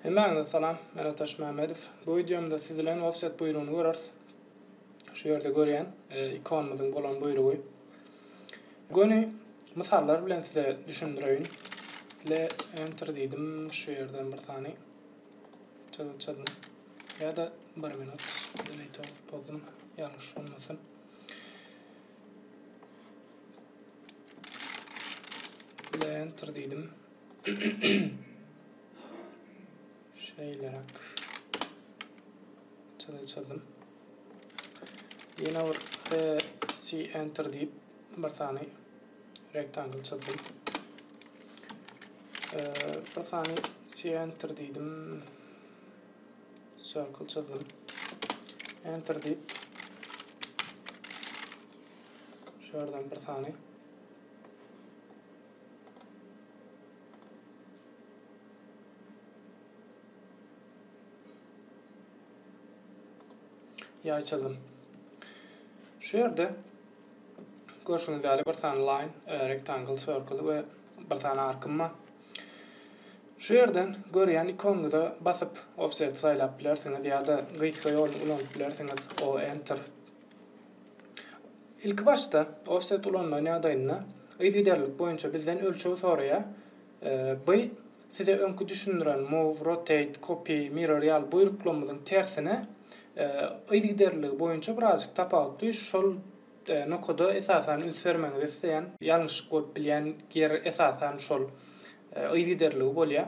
Hemmäňize salam, men Ataş Mämmedow. Bu wideomda siz bilen offset buýrugyny göreris. Şu ýerde görýän ikonymyzyň bolan buýrugy. Göni mysallar bilen size düşündireýin. Le enter diýdim, şu ýerden bir sany çyzylçadan ýa-da bir minut delete atyp bozdum, ýalňyş bolmasyn. Enter diýdim. Şeýleräk. Çyzdyrdym. Ýene bir C enter diýip bir sany rektangl çyzdym. Bir sany C enter diýdim. Circle çyzdym. Enter diýip. Şu ýerden bir sany ýaý çyzdym. Şu ýerde görşüňiz ýaly bir sany line, e, rectangle, circle we bir sany arkym bar. Şu ýerden görýän ikonyňyza basyp offset saýlap bilersiňiz ýa-da gysga ýoluny ulanyp bilersiňiz o enter. Ilki başda offset ulanmagyň ýagdaýynda yzygiderlilik boýunça bizden ölçeg soraýar. By size öňki düşündiren move, rotate, copy, mirror ýaly buýruklamyzyň tersine yzygiderliligi boýunça birazjyk tapawutly şol Nokada esasan üns bermegiňizi isleýän, ýalňyşlyk bolup bilýän ýer esasan şol yzygiderligi bolýar.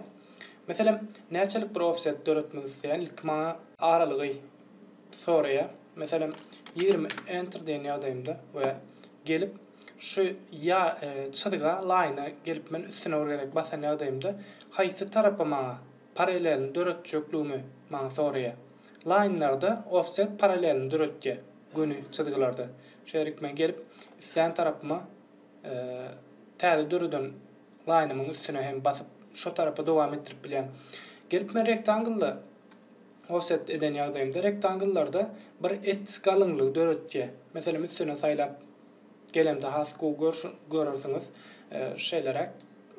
Meselem, näçelik bir ofset döretmek isleýän ilki maňa aralygy soraýar. Meselem, ýigrimi enter diýen ýagdaýymda we gelip şu ýa çyzga, laýna gelip men üstüne bir gezek basan ýagdaýymda haýsy tarapy maňa paralelini döretjekligimi maňa soraýar. Laýnlarda offset paralelini döretýär, göni çyzgylarda. Şeýdip men gelip, islän tarapyma täze döreden laýnymyň üstüne hem basyp, şo tarapa dowam etdirip bilýän. Gelip men rektanglda offset eden ýagdaýymda, rektangllarda bir et galyňlygy döretýär. Meselem, üstüne saýlap gelemde has gowy görersiňiz, şeýleräk,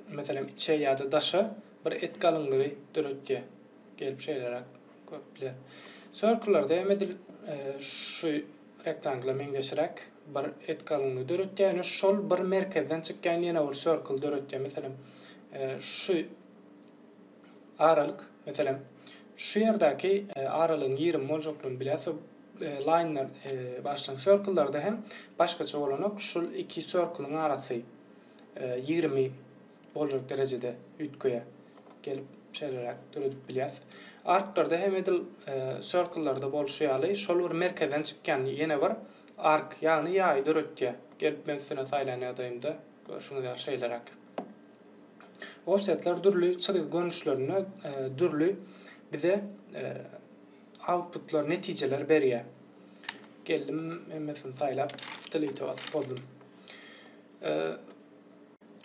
meselem, içe ýa-da daşa. Bir et galyňlygy döretýär. Gelip şeýleräk görüp biler. Circle-lerde hem edil şu rektangla meňzeşräk bir et galyňlygy döretýär. Ýöne şol bir merkezden çykýan ýene bir circle döretýär. Meselem, şu aralyk, meselem, şu ýerdäki aralygyň ýigrimi boljaklygyny bilýäs. Line-ler, bagyşlaň, circle-lerde hem başgaça bolanok. Şul iki circle-yň arasy ýigrimi boljak derejede üýtgeýär. Gelip şeýleräk döredip bilýäs. Arklarda hem edil e, circle-larda bolşy ýaly şol bir merkezden çykýan ýene bir ark, ýagny ýaýy döretýär. Gelip men üstüne saýlan ýagdaýymda görşüňiz ýaly şeýleräk. Offsetler dürli çyzgy görnüşlerinde e, dürli bize e, outputlar, netijeler berýär. Geldim hemmesini saýlap, delete basyp boldum. E,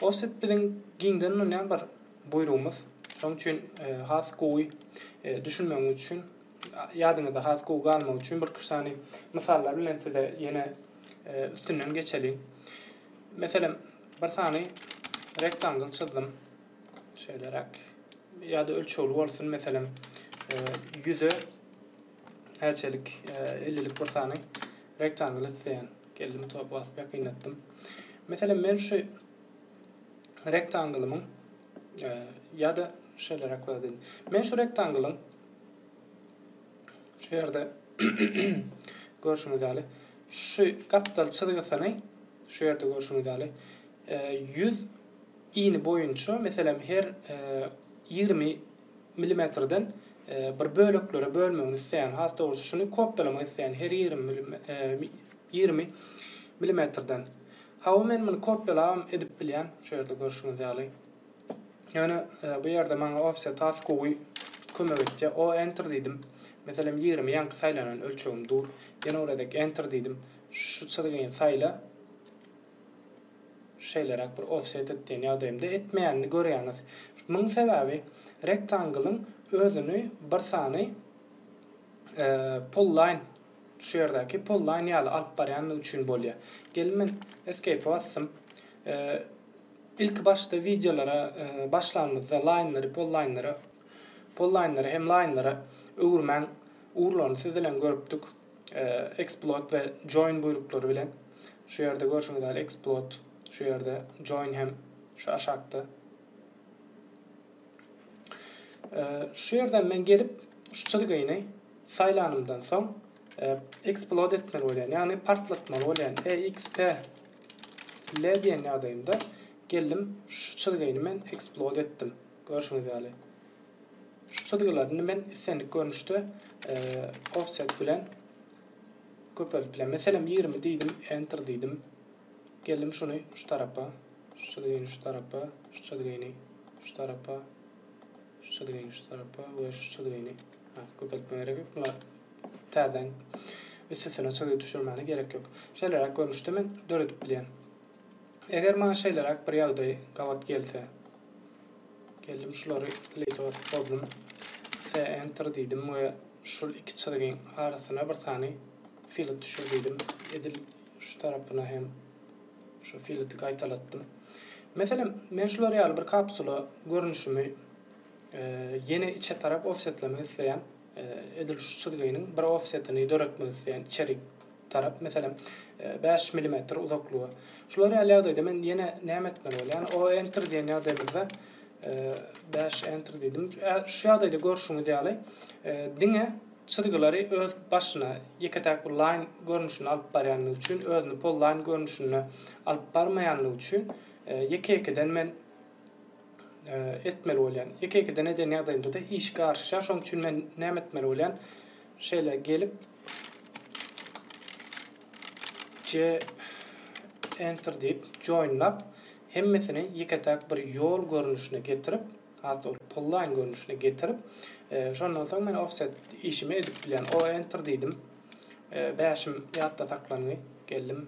Ol süt biziň giňden ulanýan bir buýrugymyz. Şonuň üçin has gowy düşünmegiňiz üçin, ýadyňyzda has gowy galmagy üçin birki-üç sany mysallar bilen size ýene üstünden geçeliň. Meselem, bir sany rektangl çyzdym. Şeýleräk. Ýa-da ölçegli bolsun, meselem, ýüze Häçelik ellilik bir sany rektangl isleýän. Geldim top basyp ýakynlatdym. Meselem men şu rektanglymyň ýa-da şeýle rekwadin. Men şu rektanglyň şu ýerde görşüňiz ýaly şu gapdal çyzgysyny şu ýerde görşüňiz ýaly 100 ini boýunça meselem her 20 milimetrden bir böleklere bölmegini isleýän, has dogrusy şuny kopýalamak isleýän her ýigrimi milimetrden. Hawa men muny kopýalabam edip bilýän, şu ýerde görşüňiz ýaly. Ýöne bu ýerde maňa offset has gowy kömek etýär. O enter diýdim. Meselem ýigrimi ýaňky saýlanan ölçegim dur. Ýene uradek enter diýdim. Şu çyzgyny saýla. şeýleräk bir offset et diýen ýagdaýymda etmeýänini görýäňiz. Munuň sebäbi Rectangle-yň özüni bir sany Polyline, şu ýerdäki Polyline ýaly alyp barýandygy üçin bolýar. Gelin men Escape-e basdym. Ilki başda wideolara başlanymyzda Line-lary Polyline-lere, Polyline-lary hem Line-lere öwürmäň ugurlaryny siz bilen görüpdik. Exploit we Join buýruklary bilen. Şu ýerde görşüňiz ýaly Exploit şu ýerde, Join hem şu aşakda. Şu ýerden men gelip, şu çyzgyny saýlanymdan soň Exploit etmeli bolýan, ýagny partlatmaly bolýan. EXP L diýen ýagdaýymda geldim, şu çyzgyny men Exploit etdim. Görşüňiz ýaly, şu çyzgylar. Indi men islendik görnüşde offset bilen köpeldip bilen. Meselem, ýigrimi diýdim, enter diýdim. Geldim şuny şu tarapa, şu çyzgyny şu tarapa, şu çyzgyny şu tarapa, şu çyzgyny şu tarapa we şu çyzgyny köpeltmä gerek ýok. Bular täzeden üst-üstüne çyzgy düşürmäne gerek ýok. Şeýleräk görnüşde men döredip bilýän. Eger maňa şeýleräk bir ýagdaý gabat gelse. Geldim şulary delete basyp bozdum. F enter diýdim we şul iki çyzgyň arasyna bir sany filet düşür diýdim. Edil şu tarapyna hem şu fileti gaýtalatdym. Meselem, men şular ýaly bir kapsula görnüşimi e, ýene içe tarap offsetlemek isleýän. E, edil şu çyzgynyň bir offsetini döretmek isleýän içerik tarap, meselem, bäş milimetr uzaklyga. Şular ýaly ýagdaýda men ýene näme etmeli bolýan? O enter diýen ýagdaýymyzda bäş enter diýdim. Şu ýagdaýda görşüňiz ýaly, diňe çyzgylary öz başyna ýeke-täk bir line görnüşinde alyp barýanlygy üçin, özüni polline görnüşinde alyp barmaýanlygy üçin ýeke-ýekeden men etmeli bolýan. Ýeke-ýekeden eden ýagdaýymda-da iş garşýar. Şonuň üçin men näme etmeli bolýan? Şeýle gelip, C Enter diýip joinlap hemmesini ýeke-täk bir ýol görnüşine getirip, hat ol pullaýyn görnüşine getirip, e, şondan soň men offset işimi edip bilýän. O enter diýdim. E, bäşim ýatda saklandy. Geldim.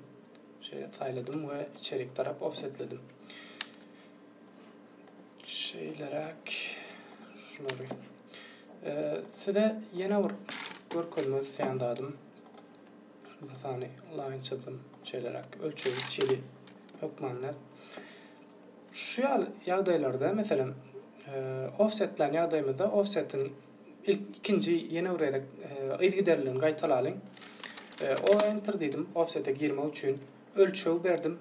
Şeýle saýladym we içerik tarap offsetledim. Şeýleräk şulary. Size ýene bir görkezmek isleýän zadym. Mysany laýyn çyzdym. Şeýleräk ölçegi çili hökmanda. Şu ýaly ýagdaýlarda, meselem, offsetlän ýagdaýymyzda offsetiň ilk ikinji ýene bir gezek yzygiderligini gaýtalalyň. O enter diýdim offsete girmek üçin. Ölçeg berdim.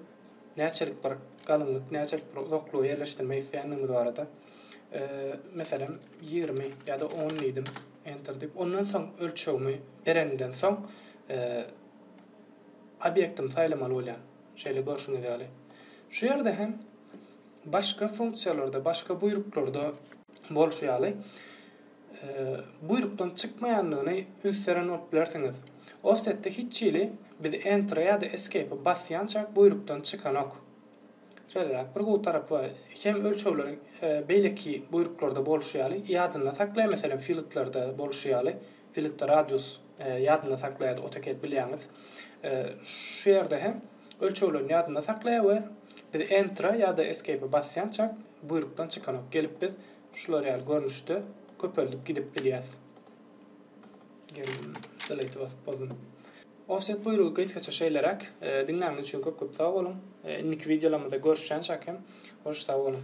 näçelik bir galynlyk, näçelik bir uzaklygy ýerleşdirmek isleýändigimiz barada, meselem, ýigrimi ýa-da on diýdim, Enter diýip, ondan soň ölçegimi berenimden soň, obýektimi saýlamaly bolýan, şeýle görşüňiz ýaly. Şu ýerde hem başga funksiýalarda, başga buýruklarda bolşy ýaly, buýrukdan çykmaýandygyny üns beren bolup bilersiňiz. Offset-de hiç hili biz Enter-e ýa-da Escape-e basýançak buýrukdan çykanok. Şeýleräk bir gowy tarapy bar. Hem ölçegler beýleki buýruklarda bolşy ýaly ýadynda saklaýar, meselem, filtlarda bolşy ýaly, filtda radius ýadynda saklaýardy, AutoCAD bilýäňiz. Şu ýerde hem ölçeglerini ýadynda saklaýar we biz Enter-e ýa-da Escape-e basýançak buýrukdan çykanok. Gelip biz Şular ýaly görnüşde köpeldip gidip bilýäs. Geldim, delete basyp bozdum. Offset buýrugy gysgaça şeýleräk. Diňläniňiz üçin köp-köp sag boluň. Indiki wideolarymyzda görüşýänçäk hem hoş sag boluň.